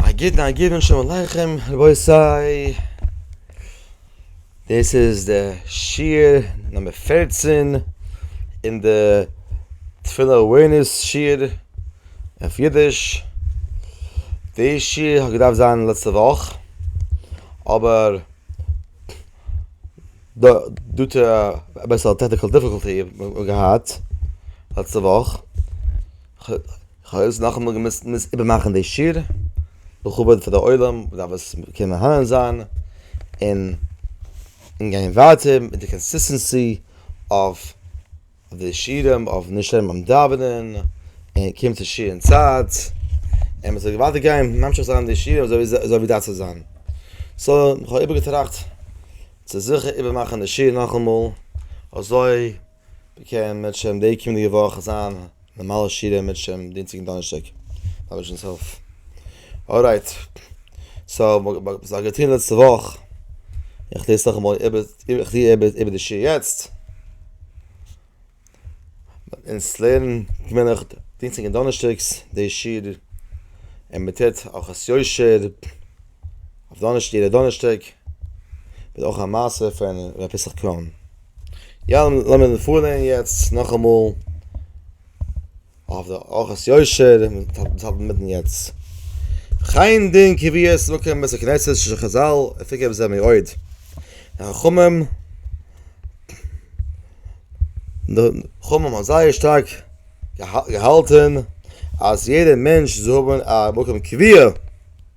א גוטן א גוטן שלום עליכם רבותי, דאס איז די שיעור נומער פֿערצן אין די תפילה אווערנעס שיעור אויף אידיש, די שיעור האט געדארפט זיין לעצטע וואך אבער דא טו אביסל טעקניקעל דיפיגולטי האט מען געהאט לעצטע וואך. כ'האב יעצט נאכאמאל געמוזט מוז איבערמאכן די שיעור, לכבוד פאר די עולם וואס דארף עס קענען מהנה זיין, און און גיין ווייטער מיט די קאנסיסטענסי אויף די שיעורים, אויף נישט שטערן ביים דאווענען, און קומען צו שיעור אין צייט, און מ'זאל ווייטער גיין ממשיך זיין די שיעור אזוי ווי אזוי ווי דארף צו זיין. סא, כ'האב איבערגעטראכט צו זיכער איבערמאכן די שיעור נאכאמאל, אזוי. באקען מיט שם די קומענדיגע וואך זיין נארמאלע שיעור מיט שם דינסטאג און דאנערשטאג מיט השם'ס הילף ארייט סאו וואס האב איך געטון לעצטע וואך איך טוה עס נאכאמאל איבער איך טוה איבער די שיעור יעצט אונז לערנען געווענליך דינסטאג און דאנערשטאגס די שיעור און מען טוט הלכות יושר אויף דאנערשטאג יעדע דאנערשטאג אויך א מעשה פון ר' פסח קראן. יא, לאמיר פארלערנען יעצט נאכאמאל אויף די ארכות יושר, דאס האבן מיר מיטן יעצט. חיין דין קביעות מקום בית הכנסת של חזל, עפי כ בזה מאוד. חכמים, חכמים האבן זייער שטארק געהאלטן אז יעדער מענטש זאל האבן א מקום קביעה,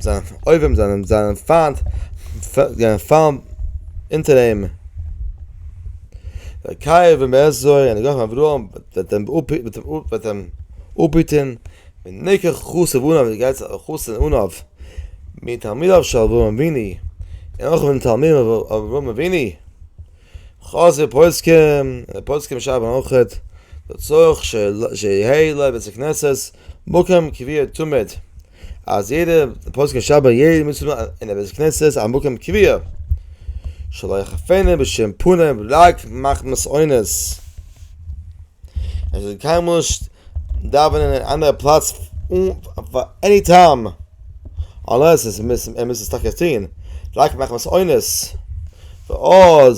זיינע אויבים זענען זיינע פיינט זענען פאלן אונטער אים. דער קייער ווען מען עסט זוי און נגחים אברהם וועט אים אפהיטען ווען ניקח חסב אנא ווען דו גייסט חסד אנא מתלמידיו של אברהם אבינו און אויך פון תלמידיו פון אברהם אבינו. חז ל פוסקים און פוסקים שרייבן אויך דערצו שיהא לו בית הכנסת מקום קביעות תמיד. אז יעדע פסק'ן שב ר יעדע מוצ ש אין א בית כנסת א מקום קביע שלא יחפנה בשום פנים רק מחמת עונות ער זאל קיינמאל נישט דאווענען אין אנדערע פלאץ פאר עני טעם אנלעס ער מוז עס טאקע טוהן רק מחמת עונות ועוד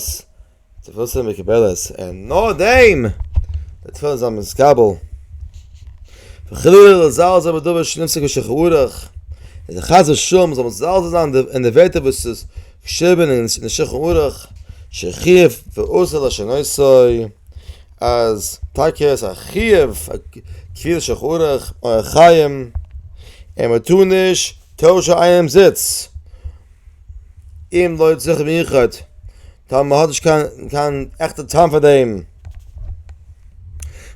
תפלות זאלן מקובלות און נאר דעם די תפלות זאלן מתקבל. וחלילה לזלזל בדבר שנפסק בשכורח, און זיך חס ושלום זאל מזלזל זיין אין די ווערטער וואס איז געשריבען אין די שולחן ערוך, שחיוב ואסור לשנותו, אז טאקע עס א חיוב א קביעות שולחן ערוך, אורח חיים, און מען טאר נישט טוישען איינעמס זיץ, אם לא צורך מיוחד, טאמער מען האט נישט קיין קיין עכטע טעם פאר דעם.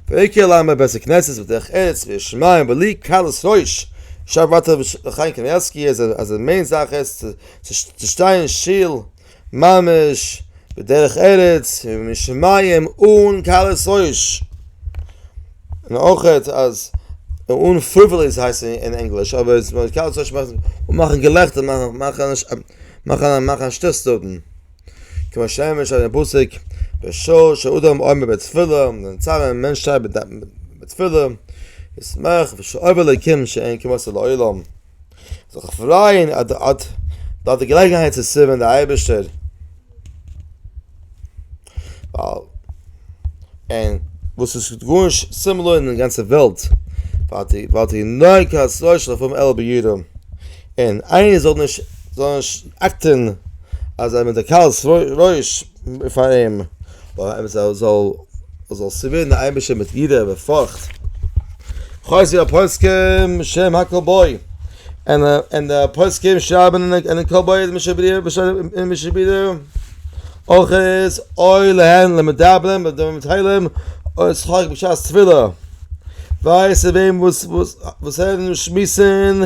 ויקהל לעם בית הכנסת ותלך ארץ וישמעו בלי קלות ראש. שרייבט ווייטער רבי חיים קנייבסקי אז אז די מעין זאך איז צו צו שטיין שטיל ממש בדרך ארץ ומשמעים אן קלות ראש. און אויך אז אן פריוועליס הייסט עס אין ענגליש אבער קלות ראש מאכט מאכן געלעכטער מאכן מאכן א שטות דארטן. כמו שאמר שא דעם פסוק בשעה שאדם עומד בתפילה און צר א מענטש שטייט בתפילה ישמח בשעה עובר לקים שאין כמעשה לעולם זאל זיך פרייען אז דו האט דארט די געלעגנהייט צו סערווען די אייבערשטער ווייל און וואס איז גארנישט סימלער אין די גאנצע וועלט און איינער זאל נישט זאל נישט אקטען אז זיי האבן די קהל רעש פאר אים און זאל זאל זאל סערווירן די אייבישטער מיט יראה ופחד כ'ווייס ווי א פוסקים שם הכל בו און און די פוסקים שרייבן אין די קול באי עולם אויך איז אוי להן למדברים בדברים מתחילים אוי שחק בשעת תפילה ווייס איז וועם וואס וואס וואס הערן און שמועסן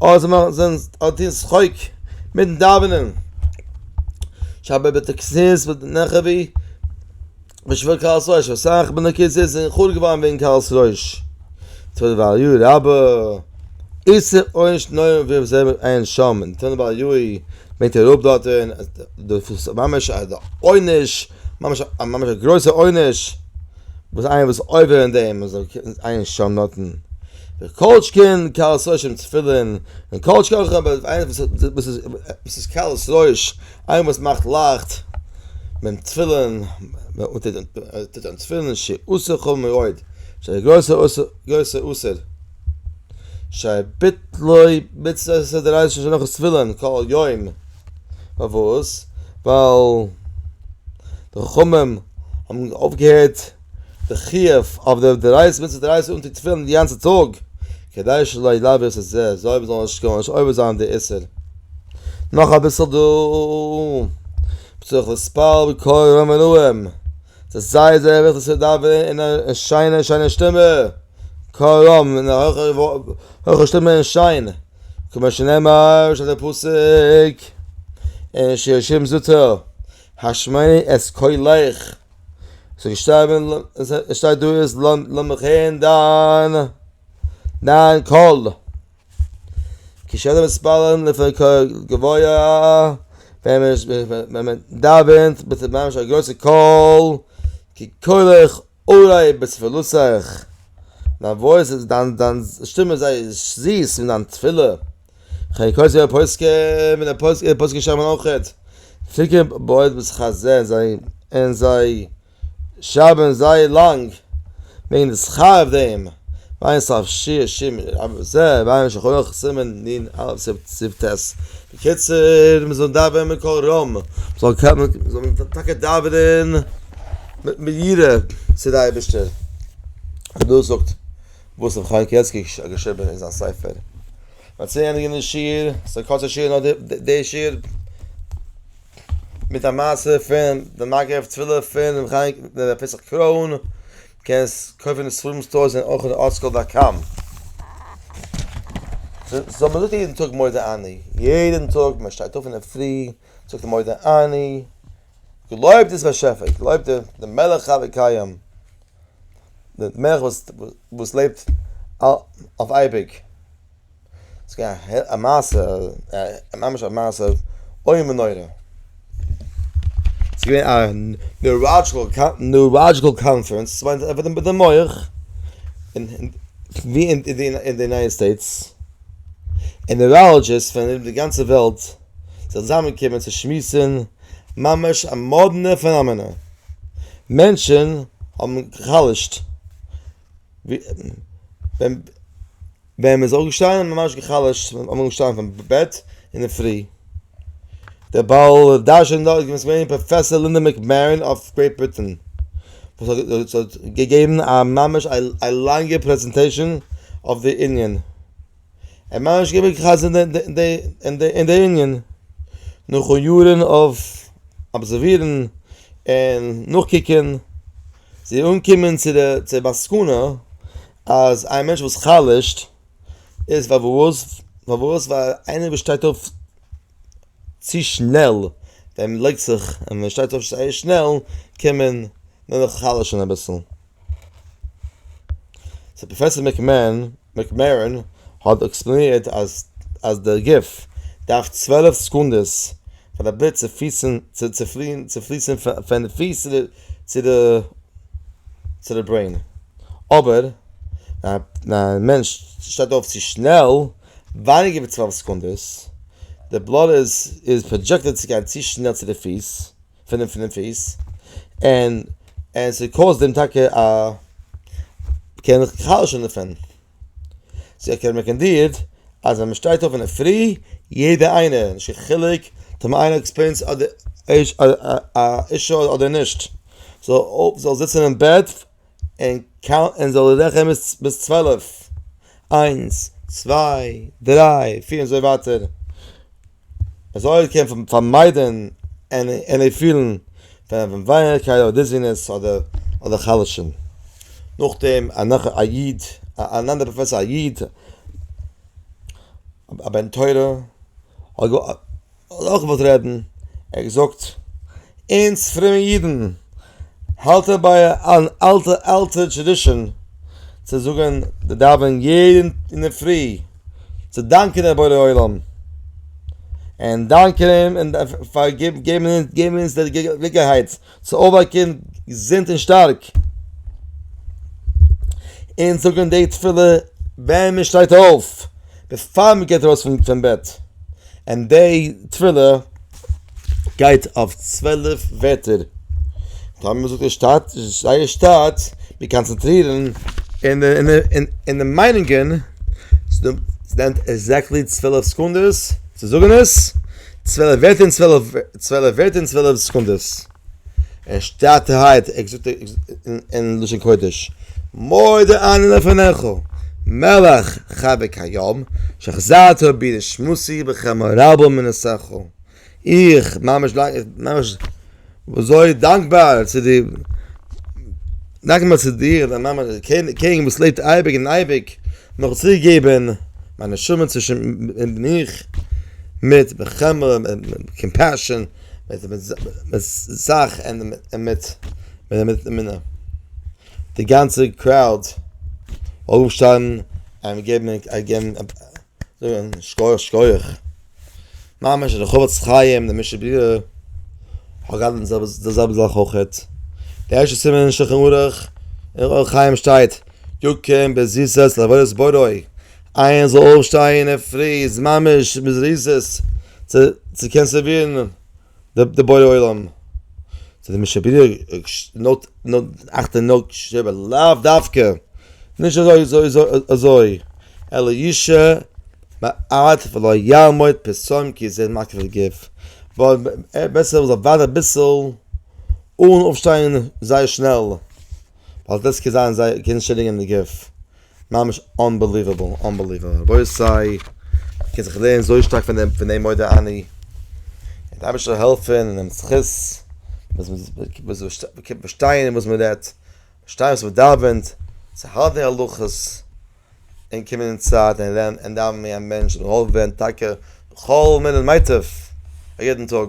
אוי זיי מאכן זיין אוי טוהן שחק מיטן דאווענען שבע בתקסיס ונכבי בשביל קהל'ס ראש, אסאך בין די כיתות זענען חרוב געווארן וועגן קהל'ס ראש. טונא בר יואי רבא, איסר עונש נורא ואיום זעהן מיר עיין שם אין טונא בר יואי, ברענגט ער אראפ דארטן אז דאס איז ממש א עונש, ממש א ממש א גרויסע עונש, וואס איינער וואס עובר אין דעם איז עיין שם דארטן. כל שכן קהל'ס ראש אין תפילין, און כל שכן אויך אבער איינער וואס איז קהל'ס ראש איינער וואס מאכט לייכט ביים תפילין, און טוט אן תפילין ש עושה כל מאוד, ש א גרויסע גרויסע אסור, ש ביטלוי מצוות ש דריישי ש נאך תפילין כל יום, פארוואס? ווייל די חכמים האבן אויפגעהערט. די חיוב אויף די דרייסט מיט די דרייסט און די תפילין די גאנצע טאג כדי שלא ידבר את זה זאל מיר זאלן שכוח נישט אויב זיין די איסר נאך אביסל דא צריך לספר בקול רם ונועם די זייער זייער וועט עס דאווענען אין א שיינע שיינע שטימע קול רם אין א הויכע הויכע שטימע אין שיין כמו שנאמר שטייט די פסוק אין שיר השירים זאגט ער השמעי את קולך ס'איז געשטארבען, עס שטייט דא איז לאמיך הערן דיין דיין קול. כשאני מתפלל לפני כל גבוה, ווען מען דאווענט מיט ממש א גרויסע קול, כקולך אולי בתפלותיך, דיין וואויס איז דיין שטימע איז זייער זיס אין דיין תפילה. כ'הער קויזער א פוסק און א פוסק און פוסק שמן אויכעט. פיקע בויעט וואס כ'זעה זיי און זיי שרייבען זייער לאנג וועגען די שכר אויף דעם. עיין סוף שיר השירים של רב ז ל ועיין שולחן ערוך סימן נ א סי' ט. בקיצור מ'זאל דאווענען בקול רם, מ'זאל מ'זאל טאקע דאווענען מיט יראה צו די אייבערשטער. דאס זאגט. וואס ר' חיים קעלסקי האט געשריבען אין זיין ספר. מ'האט צו ענדיגען די שיעור, ס'איז א קורצע שיעור נאר די שיעור, מיט א מעשה פון די מגף תפילה פון ר' חיים ר' פסח קרוין, קענסט קויפען אין ספרים סטארס און אויך אין ארטסקרול דאט קאם. סאו מ'זאגט יעדען טאג מודה אני, יעדען טאג מ'שטייט אויף אינדערפרי זאגט מען מודה אני. געלויבט איז באשעפער, געלויבט דער מלך חי וקיים, דער מלך וואס לעבט אויף אייביג, עס איז געווען א מעשה, ממש א מעשה איום ונורא, עס איז געווען א ניוראדזשיקעל קאנפרענס, עס איז געווען מיט די מח, ווי אין די יונייטעד סטעיטס, און ניוראלדזשיסט פון די גאנצע וועלט, זיך צוזאמענקומען צו שמועסן, ממש א מאדנע פענאמענע, מענטשן האבן גע'חלש'ט, ווען מען איז אויפגעשטאנען, ממש גע'חלש'ט, מען איז אויפגעשטאנען פון בעט אינדערפרי, דער בעל דרשן דארט איז געווען פראפעסאר לינדא מעקמערין אויף גרעיט בריטען, וואס האט געגעבן א ממש א לאנגע פרעזענטעישאן אויף די יוניאן. ער מיינט נישט געווען כעס אין די אין די אין די אין די יונגען נאכן יארן אויף אבזערווירן און נאכקוקען זיי אנקומען צו די צו די מסקנא אז איין מענטש וואס חלש'ט איז פארוואס פארוואס ווייל איינער וואס שטייט אויף צו שנעל און לייגט זיך און מען שטייט אויף זייער שנעל קען מען מען זיך חלש'ן אביסל. סאו פראפעסער מעקמערען האט עקספלאנירט אז דער גוף דארף צוועלף סעקונדעס פאר די בלוט צו פליסן פון די פיס צו די ברעין, אבער ווען א מענטש שטייט אויף צו שנעל, ווייניגער ווי צוועלף סעקונדעס, די בלוט איז פראדזשעקטעד צו גיין צו שנעל צו די פיס, פונעם פונעם פיס, און און ס'קאוזט אים טאקע א קען זיך חלש'ן דערפון. סאו איך קען רעקאנדירט אז ווען מ'שטייט אויף אינדערפרי, יעדע איינער, נישט קיין חילוק טאמער איינער האט עקספיריענס אדער א אישו אדער נישט, זאל זאל זיצן אין בעט און קאונט און זאל רעכענען ביז צוועלף, איינס, צוויי, דריי, פיר און אזוי ווייטער. אזוי קען מען פארמיידען עני פילן פון ווייערקייט אדער דיזינעס אדער חלש'ן. נאכדעם א נאך א איד אן אנדערע פראפעסאר א איד א בן תורה האט אויך געוואלט רעדן ער האט געזאגט אונז פרומע אידן האלטען ביי אן אלטע אלטע טרעדישאן צו זאגען די דאווענען יעדן אינדערפרי. צו דאנקען דעם בורא עולם, און דאנקען אים און פאר געבן אונז די געלעגנהייט צו אויפוואקן געזונט און שטארק, און זאגן די תפילה ווען מען שטייט אויף, בעפאר מען גייט ארויס פון בעט. און די תפילה גייט אויף צוועלף ווערטער, טאמער מען זאגט עס שטאט זייער שטאט, מיר קאנצענטרירן אין די מיינונגען, ס'נעמט עקזעקטלי צוועלף סעקונדעס צו זאגן עס, צוועלף ווערטער און צוועלף סעקונדעס. ער שטייט הייט, ער זאגט אין לשון קודש, מודה אני לפניך, מלך חבי כיום, שהחזרת בי נשמתי בכמה רבו מנסיך. איך, ממש, ממש, אזוי דאנקבאר צו דיר, דאנקבאר צו דיר, דער מאמע, דער קעניג וואס לעבט אייביג און אייביג, מיר האט צוריקגעגעבן מיין נשמה צווישן אים און מיך, מיט בכמה, מיט קאמפעשאן. מיט די זאך און מיט די מינע. די גאנצע קראוד זאל אויפשטיין און געבן זאגן שכוח שכוח. ממש די חפץ חיים און די משב ק האט געהאט די זעלבע זאך אויכעט. די ערשטע סימן אין שולחן ערוך און אור החיים שטייט יקום בזריזות לעבודת בורא, איינער זאל אויפשטיין אין פרי איז ממש בזריזות צו קענען סערווירן די בורא עולם, צו די מי שבינה נאט אכט און נאט שבע לאו דווקא, נישט אזוי, אלא ישע מעט ולא יעמוד פסום כי זה מקריב גוף, בעסער מען זאל ווארטן אביסל אן אויפשטיין זייער שנעל. ווייל דאס קען זיין זייער קען שעדיגען די גוף, ממש אנבעליוועבל אנבעליוועבל רבותי מען קען זיך לערנען אזוי שטארק פון דעם פון דעם מודה אני, און די אייבערשטער זאל העלפען און נעמט זכות פארשטיין וואס מען רעדט, פארשטיין וואס מען דאווענט, זיך האלטען די הלכות, און קומען אין צייט און לערנען און דאווענען ווי א מענטש און געהאלפען ווערען טאקע בכל מינוט מיטב א יעדען טאג.